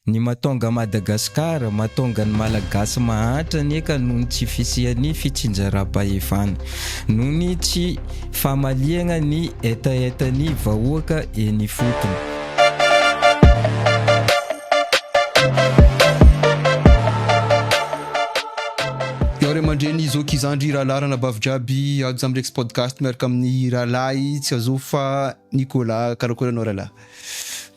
Ny matonga Madagascar, matonga ny Malagasy mahantra anie ka noho ny tsy fisian'ny fitsinjaram-pahefana, noho ny tsy famaliagna ny hetahetan'ny vahoaka eny ifotony. Ianareo ry aman-dreny zoky zandry rahalahy ranabavy jiaby ajo am rex podcast miaraka amin'ny rahalahy tsy azofy fa Nicolas karakory anao rahalahy.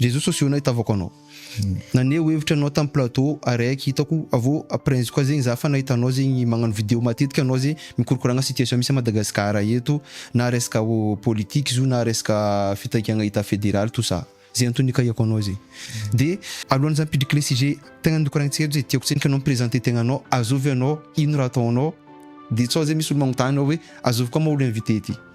Jesoa sosio na itavako anao. Naneho hevitra anao tam plateau ary aiko hitako avy eo apres koa zegny za fa nahita anao zegny magnano video matetika anao ze mikorokoragna situation misy a Madagascar eto na resaka politique izy io na resaka fitaikagna etat federal tout ça ze antony ikahiako anao ze de alohan'ny za mipidriky le sujet tegna nikoragnitsika eto ze tiako tsendriky anao mi-presenter tegna anao azovy anao ino raha ataonao de sao ze misy olo magnotany hoe azovy koa ma olo inviter ty.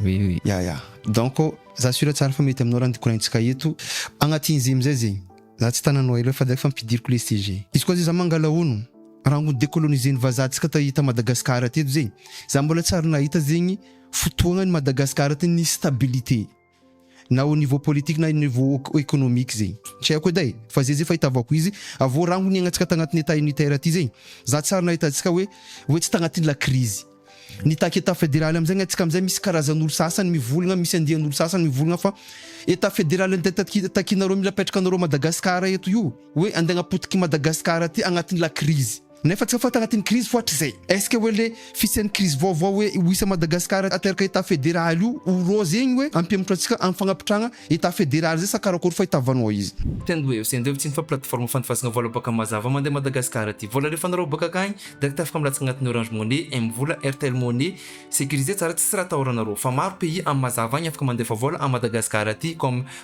Oui oui. Ya ya. Donc za sûr tsara fa mety aminao raha ny koraintsika eto. Agnatin'ny zay amizay zegny za tsy tananao ela fa direct fa ampidiriko le sujet. Izy koa zay za mangala ono rango décoloniser ny vazaha tsika ta ta Madagascar teto zegny za mbola tsy ary nahita zegny fotoagna ny Madagascar tena nisy stabilité. na au niveau politique na au niveau economique zegny tsy haiko edy e fa zay zay fahitavako izy avy eo raha ho niainantsika tagnatin'ny état unitaire ty zegny za tsy ary nahita antsika hoe hoe tsy tagnatin'ny la crise nitaky état fédéral amizay ny antsika amizay misy karazan'olo sasany mivolagna misy andian'olo sasany mivolagna fa état fédéral nde taki- takinareo mila apetrakanareo Madagascar eto io hoe ande agnapotiky Madagascar ty agnatin'ny la crise Nefa tsy ho fantatra ity ny krizy fo hatrizay. Est-ce que hoe le fisian'ny krizy vaovao hoe io isa Madagascar ateraka Etat Federal io ho rose igny hoe ampihemotra antsika am fagnapitrahagna Etat Federal zay sa karakôry fa itavano ao izy. Tena hoe ho sendreo tsy ny fa plateforme fandifasagna vola baka mazava mandeha Madagascar aty. Vola rehefa anarao baka akagny direct afaka milatsaka agnatin'ny Orange Money, M-vola, Airtel Money. Sécurisé tsara tsisy raha atahoranareo. Fa maro pays am mazava agny afaka mandefa vola am Madagascar aty comme.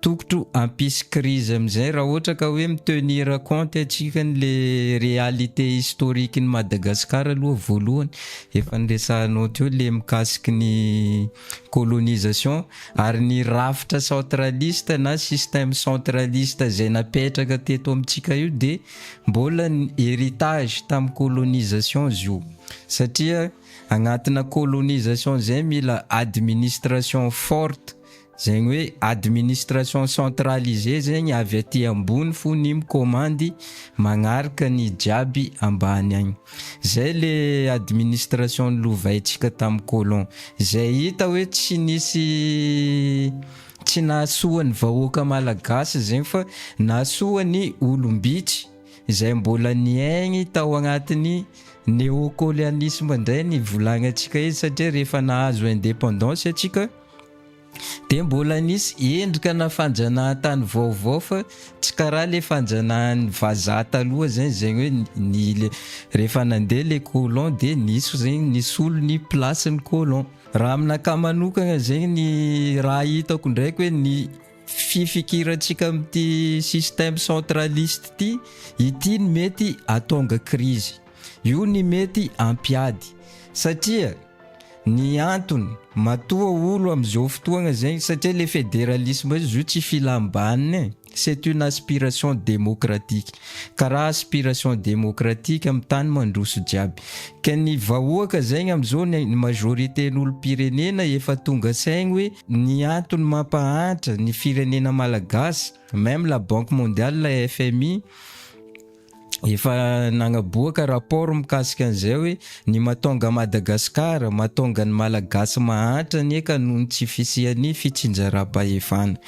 Tokotro hampisy crise amizay raha ohatra ka hoe mi tenir compte atsika ny le réalité historique ny Madagascar aloha voalohany efa niresahanao teo le mikasiky ny colonisation ary ny rafitra centraliste na système centraliste zay napetraka teto amitsika io de mbola héritage tam colonisation zio satria agnatina colonisation zay mila administration forte Zegny hoe administration centralisée zegny avy aty ambony fo ny mikomandy magnaraka ny jiaby ambany agny. Zay le administration nilovaintsika tam colon. Zay hita hoe tsy nisy tsy nahasoa ny vahoaka malagasy zegny fa nahasoa ny olom-bitsy zay mbola niaigny tao agnatin'ny neocoleanisme ndray ny volagnantsika eto satria rehefa nahazo independance atsika Dia mbola nisy endrikana fanjanahantany vaovao fa tsy karaha le fanjanahan'ny vazaha taloha zegny, zegny hoe ny le rehefa nandeha le colon de nisy zegny nisolo ny place-n'ny colon. Raha aminakahy manokagna zegny ny raha hitako ndraiky hoe ny fifikirantsika amin'ity système centraliste ty, ity no mety hahatonga crise, io ny mety hampiady satria, Ny antony, matoa olo amzao fotoagna zegny satria le federalisme izy io tsy filambanina e, c'est une aspiration démocratique, karaha aspiration démocratique am tany mandroso jiaby, ka ny vahoaka zegny amzao ny majorité n'olompirenena efa tonga saigny hoe ny antony mampahantra ny firenena malagasy, meme la banque mondiale, la FMI, efa nagnaboaka rapport mikasika an'izay hoe ny mahatonga an'i Madagasikara, mahatonga ny Malagasy mahantra anie ka noho ny tsy fisian'ny fitsinjaram-pahefana,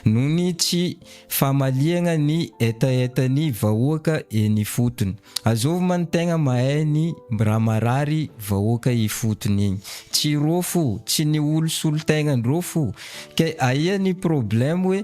noho ny tsy famaliagna ny hetahetan'ny vahoaka eny ifotony. Azovy ma ny tegna mahay ny raha marary vahoaka ifotony igny? Tsy rô fo, tsy ny olo solon-tegna ndrô fo. Kay aia ny problème hoe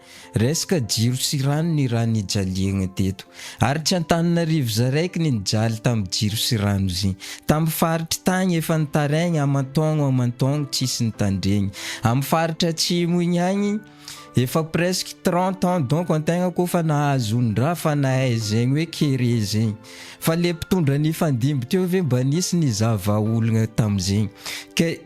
Resaka jiro sy rano ny raha nijaliagna teto. Ary tsy Antananarivo za raiky ny nijaly tam jiro sy rano zy. Tam faritry tagny efa nitaraigna aman-taogno aman-taogno tsisy nitandregny. Am faritra atsimo igny agny efa presque trente ans donc antegna ko fa nahazo ondraha fa nahay zegny hoe kere zegny. Fa le mpitondra nifandimby teo ve mba nisy nizava olagna tam zegny. Ke.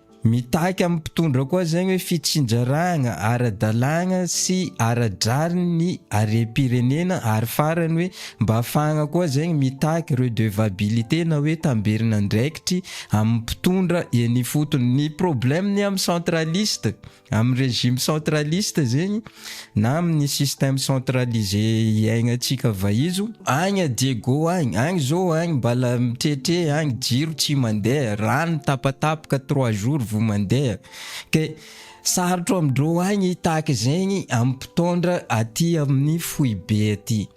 Mitaky amin'ny mpitondra koa izay hoe fitsinjarana ara-dalàna sy ara-drariny ny harem-pirenena ary farany hoe mba afahana koa izay mitaky redevabilité na hoe tamberin'andraikitry amin'ny mpitondra eny ifotony. Ny problème ny amin'ny centraliste. Amin'ny régime centraliste zegny na amin'ny système centralisé iaignan-tsika vahizo, agny à Diego agny, agny zao agny mbala mitretre agny jiro tsy mandeha, rano tapatapaka trois jours vao mandeha, ke sarotro amin-dreo agny tahaka zegny amin'ny mpitondra aty amin'ny foibe aty.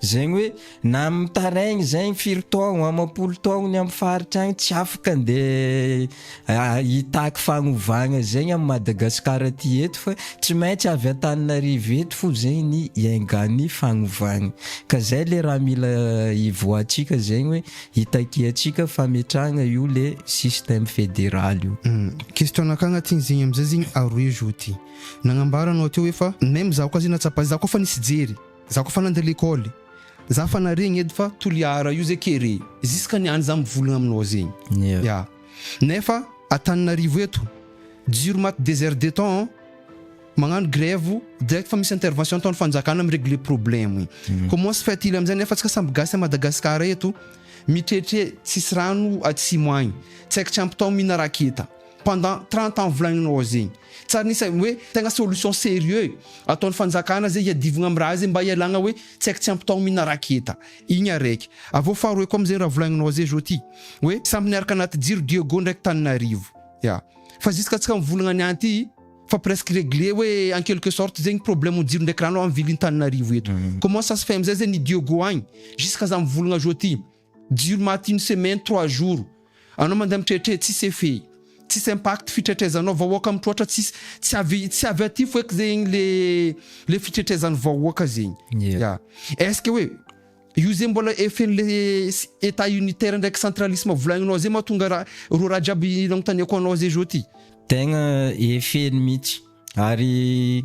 Zegny hoe na mitaraigny zegny firy taogno amam-polo taogno ny amin'ny faritra agny tsy afaka andeha hitaky fagnovagna zegny amin'i Madagasikara aty eto fa tsy maintsy avy Antananarivo eto fo zegny ny iaingan'ny fagnovagna ka zay le raha mila hivoahantsika zegny hoe hitakiantsika fametrahagna io le système fédéral io. Question nakà agnatin'ny zegny amizay zegny Aroejo ty nagnambara anao teo hoe fa même zaho koa zegny nahatsapa zaho koa fa nisy jery Za koa fa nandeha lekôly. Za fa naregny edy fa Toliara io ze kere. Ziska niany za mivolagna aminao zegny. Ya. Nefa Antananarivo eto. Jiro maty deux heures de temps an. Magnano grève direct fa misy intervention ataon'ny fanjakana mi-regler problème. Comment se fait-il amizay nefa atsika samby gasy à Madagascar eto mitretre tsisy rano atsimo agny. Tsy aiko tsy ampy tao mihina raketa. pendant trente ans volaninao ao zegny tsary nisy hoe tegna solution serieux ataon'ny fanjakana zay hiadivagna amin'ny raha zay mba hialagna hoe tsy haiko tsy ampy taogno mihina raketa igny araiky avy eo faharoe koa amizay raha volagninao zay zao ty hoe samy niaraka anaty jiro Diego ndraiky Tananarivo ya fa jusk'atsika mivolagna niany ty fa presque regle hoe en quelque sorte zegny problème jiro ndraiky rano amin'ny ville-n'i Tananarivo eto comment ça se fait amizay zegny ny Diego agny jusk'aza mivolagna zao ty. Jiro maty une semaine, trois jours. Anao mandeha mitretré tsisy effet. Tsisy impact fitretrezanao vahoaka mitroatra tsisy tsy avy tsy avy aty foek zegny le le fitretrezany vahoaka zegny. Ya. Est-ce que hoe io zegny mbola effet-n'le état unitaire ndraiky centralisme volagninao zay mahatonga ra reo raha jiaby nagnontaniako anao zay zao ty? Tegna effet-ny mitsy. Ary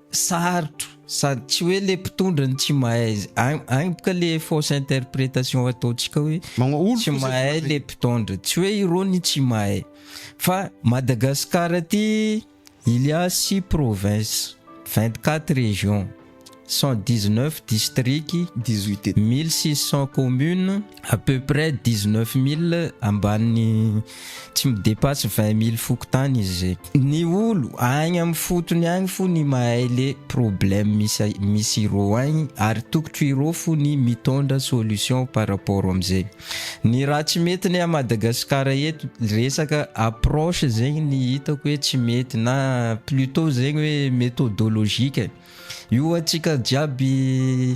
Sarotro sady tsy hoe le mpitondra no tsy mahay any ka le fausse interprétation ataontsika hoe tsy mahay le mpitondra tsy hoe irony tsy mahay fa Madagascar aty il y a 6 provinces 24 régions 119 districts 18600 communes à peu près 19 mille ambany tsy mi depasse 20 mille fokontany izy zay. Ny olo agny am fotony agny fo ny mahay le problème misy misy irô agny ary tokotro irô fo ny mitondra solution par rapport am zay. Ny raha tsy mety ny a Madagascar eto resaka approche zegny ny hitako hoe tsy mety na plutot zegny hoe methodologique io atsika jiaby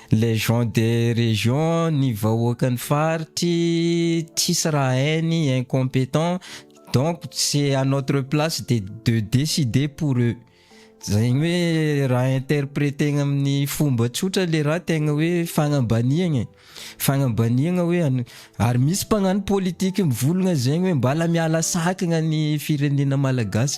Les gens de région ny vahoakan'ny faritry tsisy raha hainy incompetent donc c'est à notre place de de décider pour eux zegny hoe raha interpreter-na amin'ny fomba tsotra le raha tegna hoe fagnambaniagna fagnambaniagna hoe an- ary misy mpagnano politique mivolagna zegny hoe mbala miala sakagna ny firenena malagasy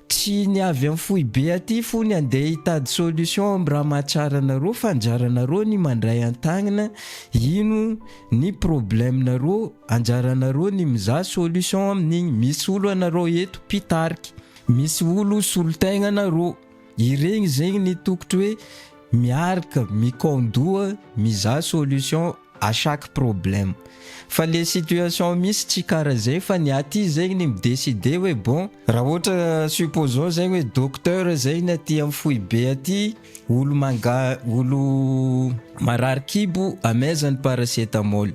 Tsy ny avy am foibe aty fony andeha hitady solution am raha mahatsara anareo fa anjaranareo ny mandray antagnina ino ny problème nareo anjaranareo ny mizaha solution amin'igny misy olo anareo eto mpitarika misy olo solotegna anareo iregny zegny ny tokotry hoe miarka mikaon-doha mizaha solution à chaque problème fa le situation misy tsy kara zay fa ny aty zegny ny mi-decider hoe bon raha ohatra supposons zegny hoe docteur zegny aty am foibe aty olo manga olo marary kibo amaizany paracetamol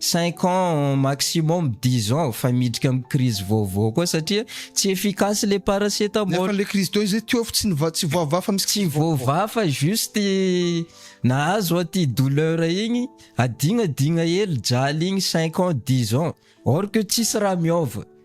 Cinq ans maximum dix ans fa miditra am crise vaovao koa satria tsy efficace le paracetamol. Nefa le crise dont izy tiofo tsy niva tsy voavaha fa misy crise tsy voavaha fa juste nahazo aty douleur igny adigna digna hely jaly igny cinq ans dix ans or que tsisy raha miova.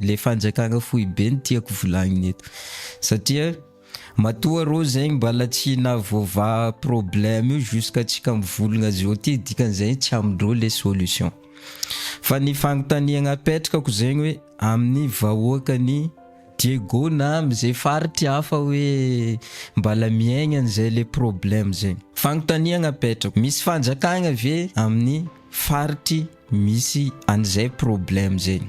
le fanjakana foibe no tiako volagnina eto satria matoa rô zegny mbala tsy navoavaha problème io jusqu'à tsika mivolagna azy eo ty dikan'izay tsy amindreo le solution fa ny fagnontaniagna apetrako zegny hoe amin'ny vahoakany Diego na am'izay faritry hafa hoe mbala miaigna an'izay le problème zegny fagnontaniagna apetrako misy fanjakagna ve amin'ny faritry Misy an'izay problème zay.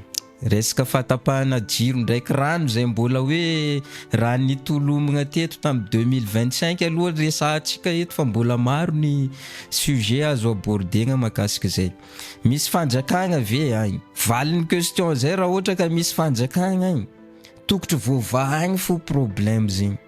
Resaka fahatapahana jiro ndraiky rano izay mbola hoe raha nitolomina teto tamin'ny 2025 aloha resahantsika eto fa mbola maro ny sujet azo abordegna makasika izay. Misy fanjakagna ve agny? Valin'ny question zay raha ohatra ka misy fanjakagna agny, tokotry voavaha agny fo problème zegny.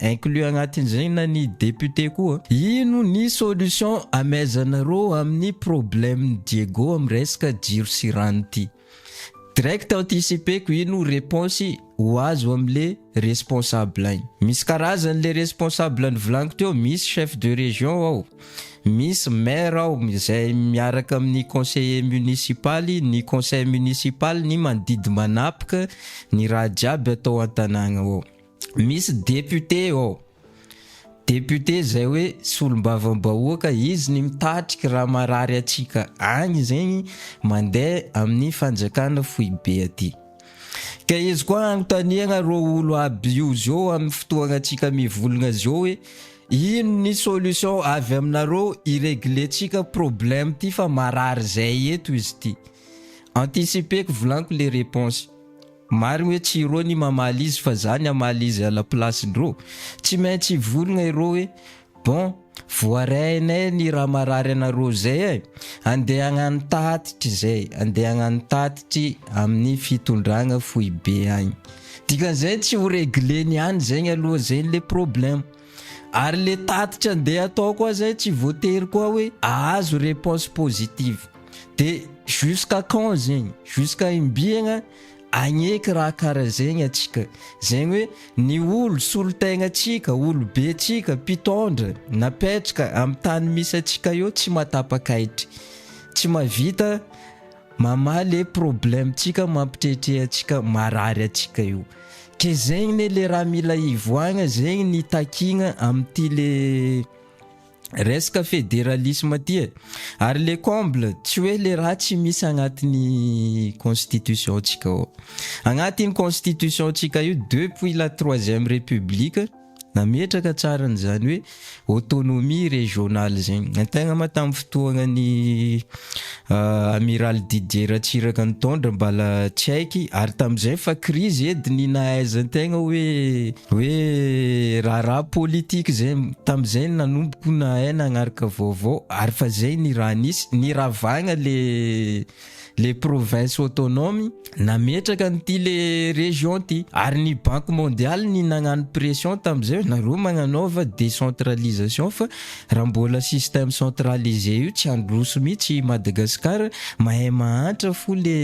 inclus agnatin'izay na ny député koa, ino ny solution amehezanareo amin'ny problème n'i Diego amin'ny resaka jiro sy rano ty? Direct anticipeko ino reponse ho azo amle responsable igny. Misy karazany le responsable nivolagniko teo, misy chef de région ao, misy maire ao izay miaraka amin'ny conseiller municipal, ny conseil municipal ny mandidy manapika ny raha jiaby atao an-tanàgna ao. Misy député ao, député zay hoe solombavam-bahoaka, izy ny mitatrik raha marary atsika agny zegny mandeha amin'ny fanjakana foibe aty. Ka izy koa anontaniagna rô olo aby io zô amin'ny fotoagna atsika mivolagna zô hoe ino ny solution avy aminarô hi-regler-tsika problème ty fa marary zay eto izy ty. Anticiper-ko volaniko le réponse. Marigny hoe tsy irô ny mamaly izy fa za ny hamaly izy à la place ndrô. Tsy maintsy hivolagna irô hoe bon voarehainay ny raha marary anarô zay e! Andehagnan tatitry zay, andehagnan tatitry amin'ny fitondragna foibe agny. Dikan'izay tsy ho regler-ny any zegny aloha zegny le problème. Ary le tatitra ndeha atao koa zay tsy voatery koa hoe ahazo reponse positive. De jusqu'à quand zegny? Jusqu'à imbiagna agneky raha karaha zegny atsika? Zegny hoe ny olo solontegnantsika, olobentsika, mpitondra napetraka am tany misy atsika eo tsy matapak'ahitry, tsy mahavita Mamaha le problème tsika mampitrehtreha antsika marary antsika io ke zegny ne le raha mila hivoagna zegny ny takigna amin'ity le resaka fédéralisme ty e ary le comble tsy hoe le raha tsy misy agnatin'ny constitution ntsika ao agnatin'ny constitution ntsika io depuis la troisième république Nametraka tsara an'izany hoe autonomie régionale izany. Ny tegna ma tamin'ny fotoagnan'i Amiral Didier Ratsiraka nitondra mbala tsy haiky ary tamin'izay fa krizy edy ny nahaizan-tegna hoe hoe raharaha politique izay. Tamin'izay nanomboka nahay nagnaraka vaovao ary fa izay ny raha nisy. Niravagna le le province autonome nametraka an'ity le region ity ary ny banque mondiale ny nagnano pression tam'izay hoe nareo magnanaova décentralisation fa raha mbola système centralisé io tsy handroso mihitsy i Madagascar mahay mahantra fo le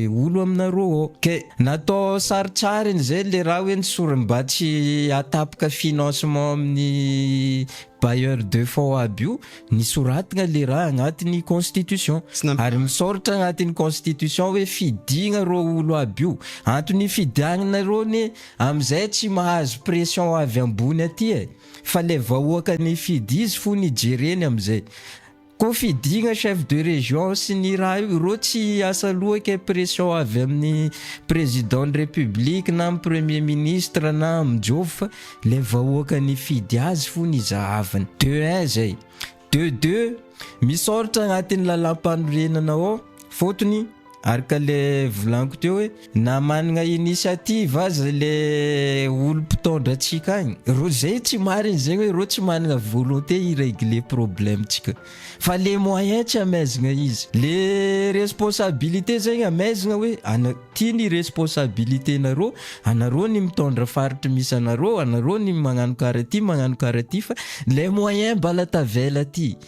olo aminareo ao ke natao sarotsariny zay le raha hoe ny sorimbatsy atapoka financement amin'ny bailleurs de fonds aby io ny soratgna le raha agnatiny constitution Tsy nam- ary misaoritra agnatiny constitution hoe fidigna rô olo aby io antony ifidiagnana rô ne amizay tsy mahazo pression avy ambony aty e fa le vahoaka nifidy izy fony ijereny amizay Kofidina chef de région sy ny raha io ireo tsy hiasa lohaka impression avy amin'ny président ny république na amin'ny premier ministre na amin'ny jofy fa ilay vahoaka nifidy azy fony izahaviny de un zay de deux misaoritra agnatin'ny lalam-panorenana ao fotony Ary ka le volaniko teo hoe na manana initiative aza le olo mpitondra antsika agny, reo zay tsy marigny zegny hoe reo tsy manana volonté hi régler problème ntsika fa le moyen tsy amaizigna izy, le responsabilité zegny amaizigna hoe ana- ty ny responsabilité nareo, anareo ny mitondra faritry misy anareo, anareo ny magnano karaha ty magnano karaha ty fa le moyen mbala tavela ty.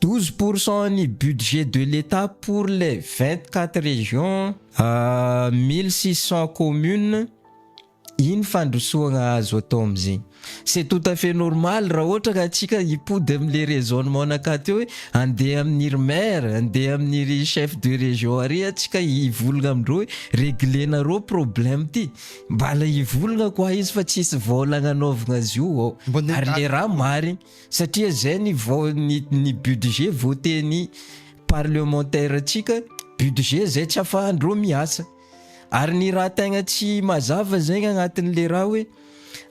12 pour cent ny budget de l'Etat pour les 24 régions, 1600 communes, iny fandrosoagna azo atao amzegny. C'est tout à fait normal raha ohatra ka antsika hipody amle raisonnement naka teo hoe andeha aminiry maire, andeha aminiry chef de région ary antsika hivolagna amindreo hoe reglenareo problème ty, mbala hivolagna koa izy fa tsisy vôla agnanaovagna azy io ao, ary le raha marigny. Satria izay ny vao ny ny budget voter-ny parlementaire-ntsika, budget izay tsy afahan-dreo miasa. Ary ny raha tegna tsy mazava zegny agnatin'le raha hoe,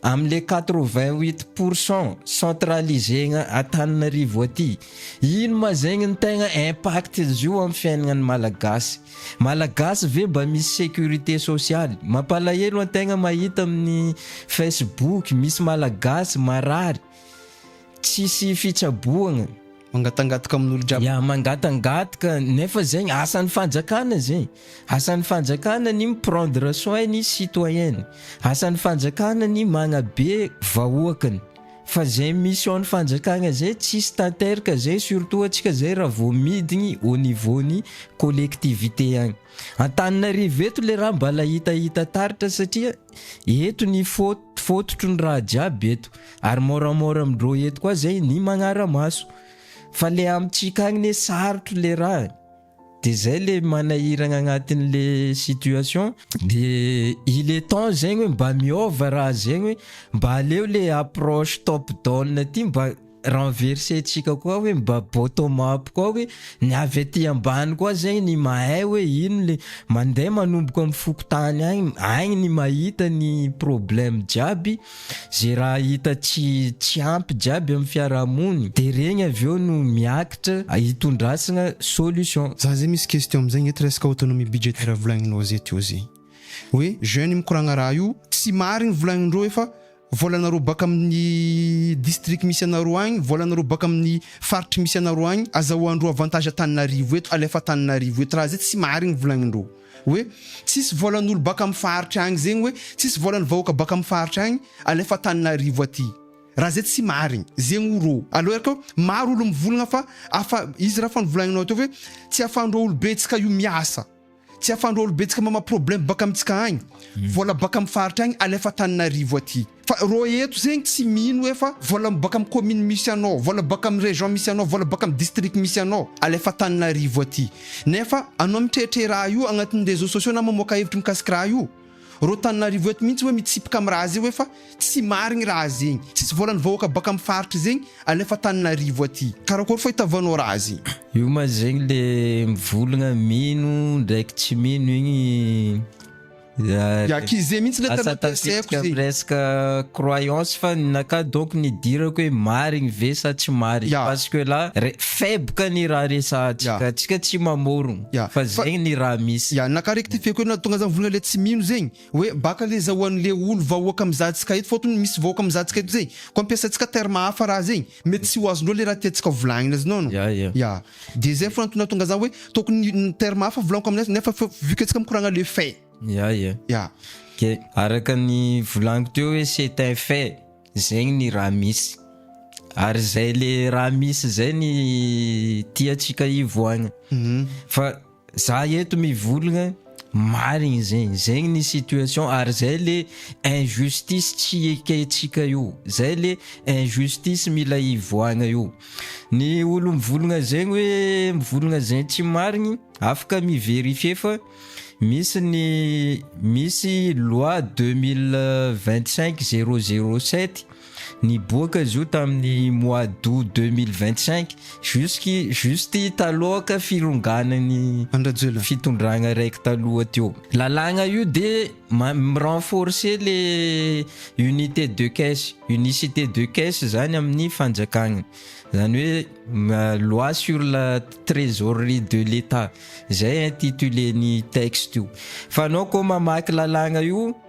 am'le quatre vingt huit pour cent centraliser-gna Antananarivo aty, ino ma zegny ny tegna impact-n'izy io amin'ny fiaignan'ny Malagasy? Malagasy ve mba misy sécurité sociale? Mampalahelo antegna mahita amin'ny Facebook misy Malagasy marary tsisy fitsaboagna. Mangatangatka amin'olo jiaby. Ya mangatangatka nefa zegny asan'ny fanjakana zegny. Asan'ny fanjakana ny mi prendre soin ny citoyen-ny. Asan'ny fanjakana ny magnabe vahoakany. Fa zay mission ny fanjakagna zay tsisy tanterka zay surtout atsika zay raha vao midigny au niveau ny collectivité agny Antananarivo eto le raha mbala hitahita taritra satria eto ny faute fototry ny raha jiaby eto ary moramora amindreo eto koa zay ny magnara maso fa le amitsika agny ne sarotro le raha de zay le manahiragna agnatin'le situation de il est temps zegny hoe mba miôva raha zegny hoe mba aleo le approche top down ty mba renverser-tsika koa hoe mba bottom up koa hoe ny avy aty ambany koa zegny ny mahay hoe ino le mandeha manomboka am fokontany agny, agny ny mahita ny problème jiaby Ze raha hita tsy tsy ampy jiaby amin'ny fiaraha-mony de regny avy eo no miakitra hitondrasgna solution. Za zay misy question amzay nge ty resaka autonomie budgétaire volagninao zay teo zay hoe jeune mikoragna raha io tsy marigny volagnindreo hoe fa volanareo baka aminy district misy anareo agny volanareo baka aminy faritry misy anareo agny azahoandreo avantage Antananarivo eto alefa Antananarivo eto raha zay tsy marigny volagnindreo. Hoe tsisy volan'olo baka am faharitra agny zegny hoe tsisy volan'ny vahoaka baka am faharitra agny alefa Antananarivo aty. Raha zay tsy marigny. Zegny o rô. Alô ery kô maro olo mivolagna fa afa izy raha fa novolagninao teo hoe tsy afahandrô olo betsaka io miasa. Tsy afahandrô olo betsaka mama problème baka amitsika agny. Vola baka am faharitra agny alefa Antananarivo aty. Fa rô eto zegny tsy mino hoe fa vola mibôka am commune misy anao, vola mibôka am région misy anao, vola mibôka am district misy anao, alefa Antananarivo aty. Nefa anao mitrehitre raha io agnatin'ny réseaux sociaux na mamoaka hevitry mikasiky raha io. Rô Tananarivo eto mihitsy hoe mitsipaka am raha zay hoe fa tsy marigny raha zegny, tsisy vôlan'ny vahoaka bôka am faritra zegny, alefa Antananarivo aty. Karakôry fô itavanao raha zegny? Io ma zegny le mivolagna mino ndraiky tsy mino igny. Yakize mihitsy le tena tezeko zay. Resaka croyance fa ninaka donc nidirako hoe marigny ve sa tsy marigny yeah. parce que là faible ka ny raha resahantsika yeah. tsika tsy mamorogno yeah. fa zegny ny raha misy yeah. naka rectifieko hoe natonga zany volana le tsy mino zegny hoe baka le zahoan'le olo vahoaka mizahantsika eto fotony misy vahoaka mizahantsika eto zegny ko ampiasaintsika terme hafa raha zegny Mety tsy ho azonao le raha tiantsika volagnina azy nono. Ya, ya. Ya. De zay fogna antony nahatonga za hoe tokony ny terme hafa volagniko amin'azy nefa fa vu que antsika mikoragna le fait. Ya, ya. Ya. Ok, araka ny volagniko teo hoe c'est un fait, zegny ny raha misy. Ary zay le raha misy zay ny tiantsika hivoagna. Fa. Za eto mivolgna marigny zegny, zegny ny situation ary zay le injustice tsy ekentsika io, zay le injustice mila hivoahagna io. Ny olo mivolgna zegny hoe mivolgna zegny tsy marigny afaka mi-verifier fa misy ny misy loi deux mille vingt cinq zero zero sept Niboaka izy io tamin'ny mois d'aout deux mille vingt cinq jusqu' juste taloha ka fironganan'ny Andrajoelina. fitondragna raiky taloha teo. Lalàgna io dia ma- mi-renforcer le unité de caisse, unicité de caisse zany amin'ny fanjakagna. Zany hoe ma- loi sur la trésorerie de l'Etat, zay intitulé-n'ny texte io. Fa anao koa mamaky lalàgna io.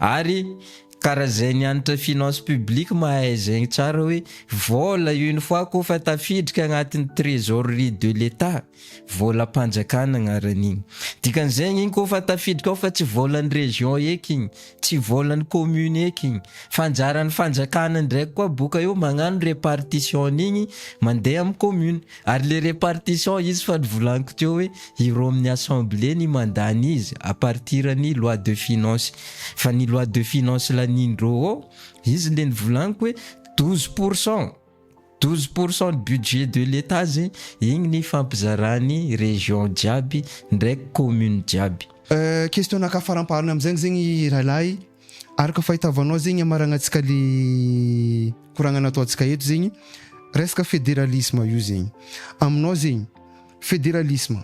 Ary ka raha zay nianatra finance publique mahay zegny tsara hoe vola une fois ko fa tafidrika agnatin'ny trésorerie de l'Etat, volam-panjakana agnaran'igny. Dikan'izegny igny ko fa tafidrika ao fa tsy volan'ny région eky igny, tsy volan'ny commune eky igny fa anjaran'ny fanjakana ndraiky koa boka eo magnano répartition-n'igny mandeha amin'ny commune. Ary le repartition izy fa nivolaniko teo hoe ireo amin'ny assemblée ny mandany izy à partir ny loi de finance fa ny loi de finance lanin'ireo ao izy le nivolaniko hoe douze pour cent douze pour cent de budget de l'etat ze igny ny fampizarany région jiaby ndraiky commune jiaby. Question-nakafaramparany amzegny zegny Railahy, Araka fahitavanao zegny amaragnatsika le koragna nataontsika eto zegny resaka federalisme io zegny aminao zegny federalisme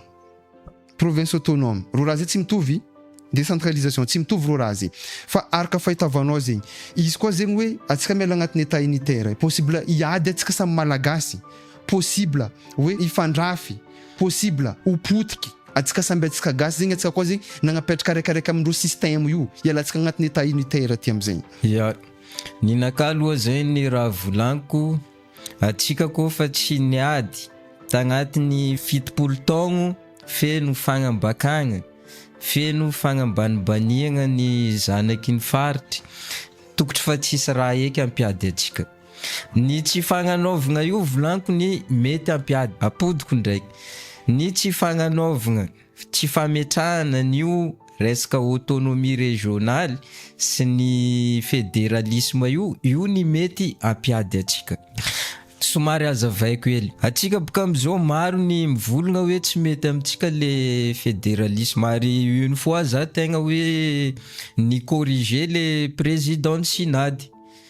province autonome roa raha zay tsy mitovy décentralisation tsy mitovy roa raha zay fa araka fahitavanao zegny izy koa zegny hoe atsika miala agnatin'ny état unitaire possible hiady atsika samy malagasy possible hoe hifandrafy, possible ho potiky, atsika samby atsika gasy zegny atsika koa zegny nagnapetraka araiky araiky amindreo système io, hialantsika agnatin'ny état unitaire aty amizegny. Ya, ninakà aloha zay ny raha volaniko, atsika koa fa tsy niady tagnatin'ny fitopolo taogno feno fagnambakagna, feno fagnambanibaniagna ny zanaky ny faritry, tokotry fa tsisy raha eky ampiady atsika. Ny tsy fagnanaovagna io volanko ny mety hampiady apodiko ndraiky ny tsy fagnanaovagna, tsy fametrahana an'io resaka autonomie régionale sy ny federalisme io, io ny mety hampiady antsika. Somary hazavaiko hely, antsika boka amizao maro ny mivolagna hoe tsy mety amintsika le federalisme ary une fois za tegna hoe ni-corriger le président ny synade.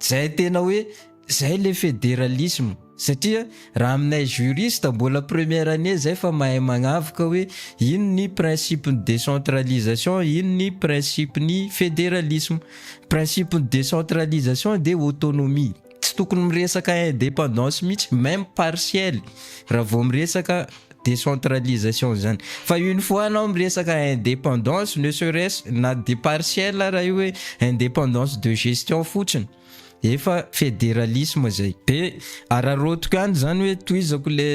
Zay tena hoe zay le federalisme satria raha aminay juriste mbola première année zay fa mahay magnavoka hoe ino ny principe ny décentralisation ino ny principe ny federalisme principe ny décentralisation de autonomie tsy tokony miresaka indépendance mihitsy même partielle raha vao miresaka décentralisation izany fa une fois anao miresaka indépendance ne serait-ce na dia partielle ara io hoe indépendance de gestion fotsiny efa fédéralisme izay be araraotiko any izany hoe tohizako le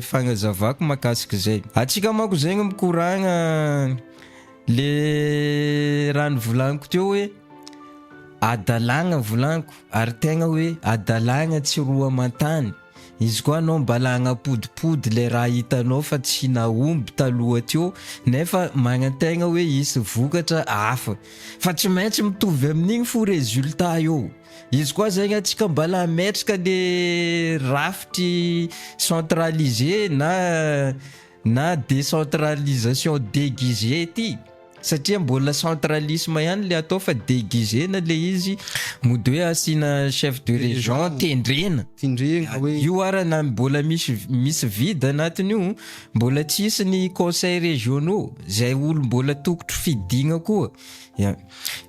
fagnazavako makasika izay antsika manko zegny mikoragna le raha nivolaniko teo hoe adalagna volaniko ary tegna hoe adalagna tsy roa aman-tany Izy koa anao mba lagnapodipody le raha hitanao fa tsy nahomby taloha teo nefa magnantegna hoe hisy vokatra hafa fa tsy maintsy mitovy amin'igny fo résultat eo izy koa zegny antsika mba la metraka le rafitry centralisé na na décentralisation déguisée ity satria mbola centralisme ihany le atao fa déguisena le izy mody hoe asiana chef de région tendrena tendrena hoe io ara na mbola misy misy vide anatin'io mbola tsy hisy ny conseil régionaux zay olo mbola tokotro fidigna koa ya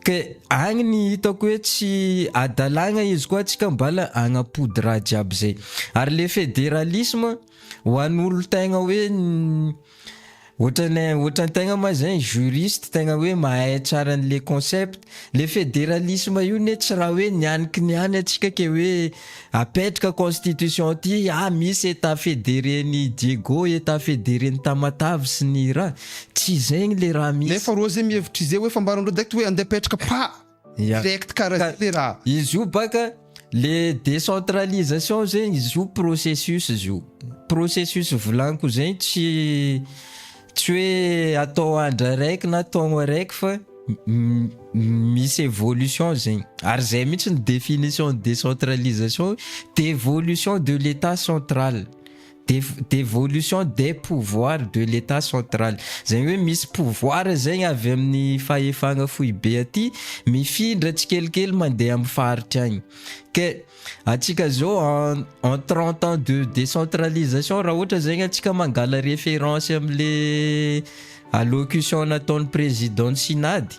ke agny ny hitako hoe tsy adalagna izy koa atsika mbala agnampody raha jiaby zay ary le fédéralisme Ho an'ny olona tegna hoe ohatran'ny ohatran'ny tegna ma zay juriste tegna hoe mahay tsara an'le concept, le federalisme io ne tsy raha hoe nianiky ny any antsika ke hoe apetraka constitution aty ah misy état fédéré ny Diego, état fédéré ny Tamatave sy ny raha. Tsy zegny le raha misy. Nefa rô ze mihevitry ze hoe fambaran'ireo dect hoe andeha apetraka pa. Ya. Direct karaha Ka- zay le raha. Izy io baka le décentralisation zegny izy io processus izy io. Processus volaniko zegny tsy tsy hoe atao andro araiky na taogno araiky fa m- m- misy évolution zegny. Ary zay mihitsy ny définition décentralisation, dévolution de l'état central. Devolution des pouvoirs de l'Etat central, izany hoe misy pouvoir izay avy amin'ny fahefana foibe aty mifindra tsikelikely mandeha amin'ny faritra agny. Ke antsika zao en en 30 ans de décentralisation raha ohatra zegny antsika mangala référence am'le allocution nataon'ny président-n'ny synade,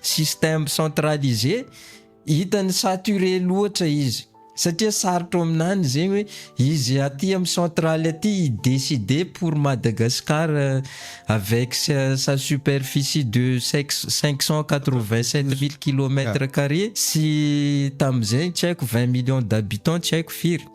système centralisé hitany saturé loatra izy satria sarotra aminany zegny hoe izy aty amin'ny centrale aty i décider pour Madagascar euh, avec sa, sa superficie de 587000 kilomètres carrés sy tamin'izay tsy haiko 20 millions d'habitants tsy haiko firy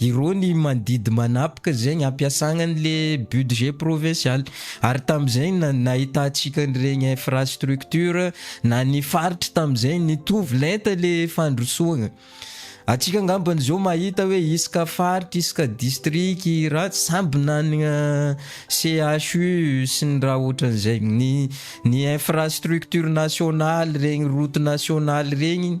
Irony mandidy manapika zegny ampiasagna an'le budget provincial. Ary tamin'izay na- nahitantsika an'iregny infrastructure na ny faritry tamin'izay nitovy lenta le fandrosoagna. Antsika angambany zao mahita hoe isaka faritry, isaka district raha samby nanagna CHU sy ny raha ohatran'izay. Ny ny infrastructure nationale regny route nationale regny.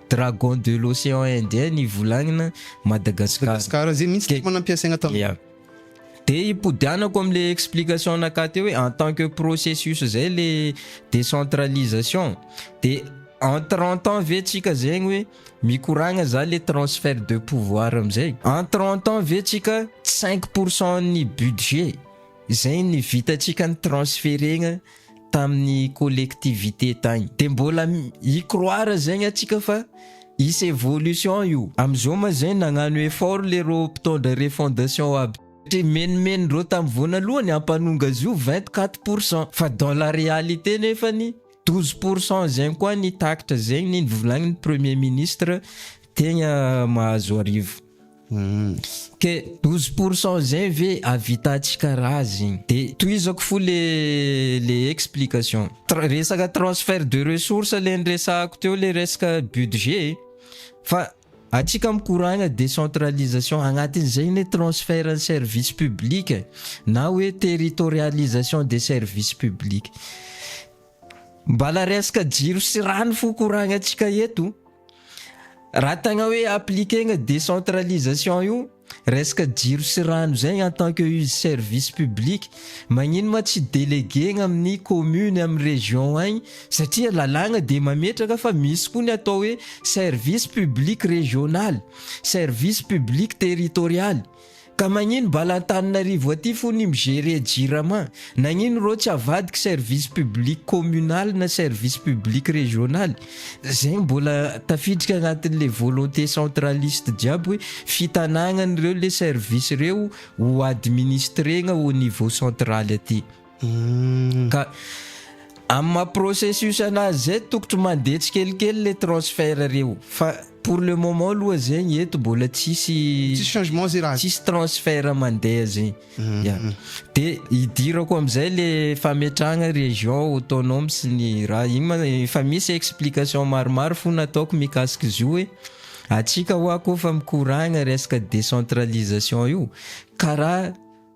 Dragon de l'océan indien ny volagnina Madagascar. Madagascar zay mintsy tema nampiasaina tam. Yeah. De ipodianako amle explication naka teo hoe en tant que processus zay le décentralisation de en 30 ans ve tsika zegny hoe mikoragna za le transfert de pouvoir amizay en 30 ans ve tsika 5% ny budget zay ny vitatsika ny transferegna tamin'ny collectivité tagny de mbola i croire zegny atsika fa hisy evolution io amizao ma zay nagnano effort le rô mpitondra refondation aby satria menomenony reo tam vonalohany ampanonga azy io vingt quatre pour cent fa dans la réalité nefany douze pour cent zegny koa ny takitra zegny ny volagnin'ny premier ministre tegna mahazo arivo. Ke douze pour cent zay ve avitantsika ra zegny de tohizako fo le le explication resaka transfert de ressource le niresahako teo le resaka budget e fa atsika mikoragna decentralisation agnatin'izay anie transfert ny service public na hoe territorialisation de service public Mbala resaka jiro sy rano fo koragnantsika eto. Raha tegna hoe appliquer-gna décentralisation io, resaka jiro sy rano zay en tant que izy service public, magnino ma tsy déléguer-gna amin'ny commune, amin'ny région agny satria lalàgna dia mametraka fa misy koa ny atao hoe service public régional, service public territorial. Ka magnino bala Antananarivo aty fo ny mi gerer jirama? Nagnino rô tsy avadiky service public communal na service public régional? Zegny mbola tafiditry agnatin le volonté centraliste jiaby hoe fitanagnan reo le service reo ho administregna au niveau central aty. Ka amin'ny maha processus anazy zay tokotro mandeha tsikelikely le transfert reo fa pour le moment aloha zegny eto mbola tsisy tsisy changement zay raha tsisy transfert mandeha zegny mm-hmm. ya de hidirako amizay le fametrahagna région autonome sy ny raha igny ma efa misy explication maromaro fo nataoko mikasiky zio hoe atsika hoa koa fa mikoragna resaka décentralisation io karaha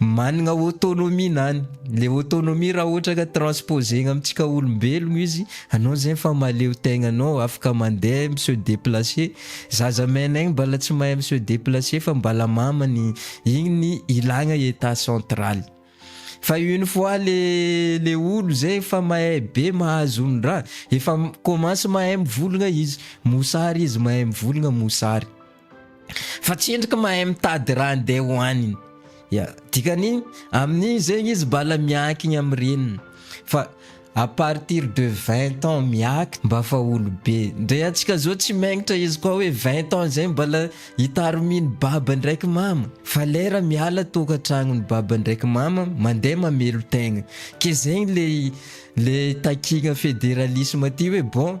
Managna autonomie nany. Le autonomie raha ohatra ka transposer-gna amintsika olombelogno izy, anao zegny fa mahaleo tegna anao, afaka mandeha, mi se déplacer. Zaza mena igny mbala tsy mahay mi se déplacer fa mbala mamany, igny ny ilagna état central. Fa une fois le le olo zay efa mahay be mahazo ny raha, efa mi commence mahay mivolagna izy, mosary izy mahay mivolagna mosary. fa tsy endriky mahay mitady raha andeha hohaniny ya dikany amin'iny zegny izy bala miankigny am reniny fa à partir de 20 ans miaky mba fa olobe ndre antsika zao tsy mengitra izy koa hoe 20 ans zegny bala itarominy baba ndraiky mama fa lera miala tokantragnony baba ndraiky mama mandeha mamelo tegna ke zegny le le takigna federalisme ty hoe bon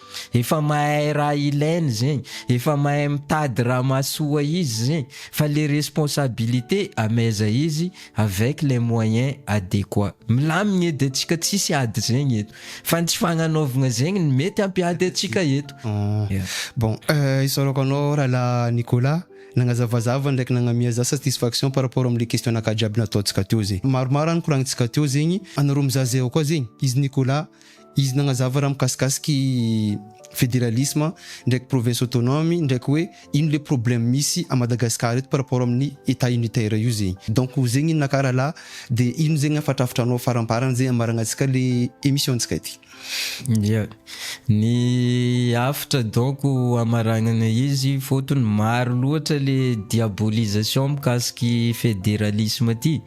Efa mahay raha ilainy zegny, efa mahay mitady raha mahasoa izy zegny fa le responsabilité ameza izy avec les moyens adéquat. Milamigny edy atsika tsisy ady zegny eto fa ny tsy fagnanaovagna zegny ny mety hampiady atsika eto. Ahh. Bon, isaorako anao rahalahy Nicolas nagnazavazava ndraiky nagnamia za satisfaction par rapport amle question naka jiaby nataontsika teo zegny. Maromaro any koragnintsika teo zegny, anareo mizaha zay ao koa zegny, izy Nicolas, Izy nagnazava raha mikasikasika i federalisma ndraiky province autonome ndraiky hoe ino le problème misy à Madagascar eto par rapport amin'ny etat unitaire io zegny. Donc zegny inona ka rahalahy de ino zegny hafatrafitranao faramparany zay hamaragna antsika le emission ntsika ty. Ya, ny hafatra donc hamaragnana izy fôtony maro loatra le diabolisation mikasiky federalisme ty.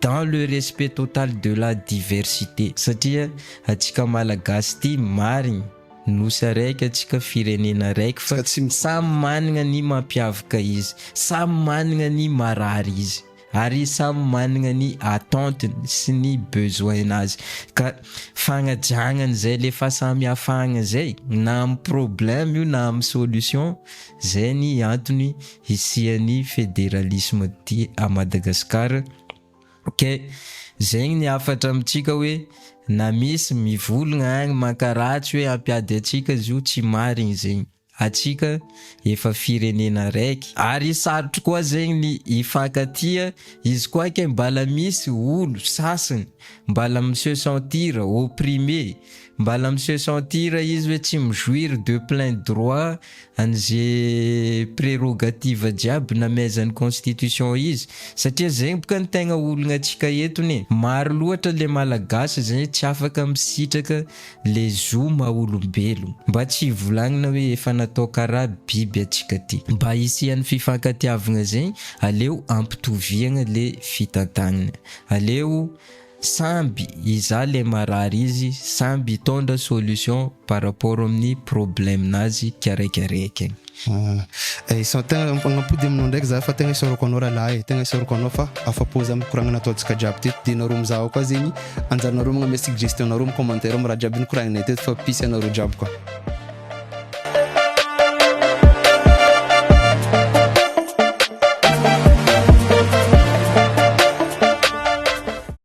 dans le respect total de la diversité satria atsika malagasy ty marigny nosy araiky atsika firenena araiky fa samy managna ny mampiavaka izy samy managna ny marary izy ary samy managna ny attente-ny sy ny besoin-nazy ka fagnajagnany zay le fahasamihafagna zay na amy problème io na amy solution zay ny antony hisian'ny federalisme aty à Madagascar kay zegny ny hafatra amintsika hoe na misy mivologna agny mankaratsy hoe hampiady antsika zio tsy marigny zegny atsika efa firenena araiky ary sarotro koa zegny ny hifankatia izy koa kay mbala misy olo sasagny mbala mi se sentir opprimé mbala mi se sentir izy hoe tsy mi jouir de plein droit an'ze prerogative jiaby nameazan'ny constitution izy satria zegny boka ny tegna olagna antsika etony e! maro loatra le malagasy zay tsy afaka misitraka le zo maha olombelogno, mba tsy ivolagnina hoe efa natao karaha biby antsika ty! mba hisian'ny fifankatiavagna zegny aleo ampitoviagna le fitantagnana, aleo Samby izaho le marary izy samby hitondra solution par rapport amin'ny problème nazy kiaraikiaraikiny. Ahh tegna magnampody aminao ndraiky za fa tegna isaorako anao ralahy e, tegna isaorako anao fa afapo za mikoragna nataontsika jiaby teto de nareo mizaha koa zegny anjaranareo magname suggestion nareo am commentaire am raha jiaby nikoragnanay teto fa peace anareo jiaby koa.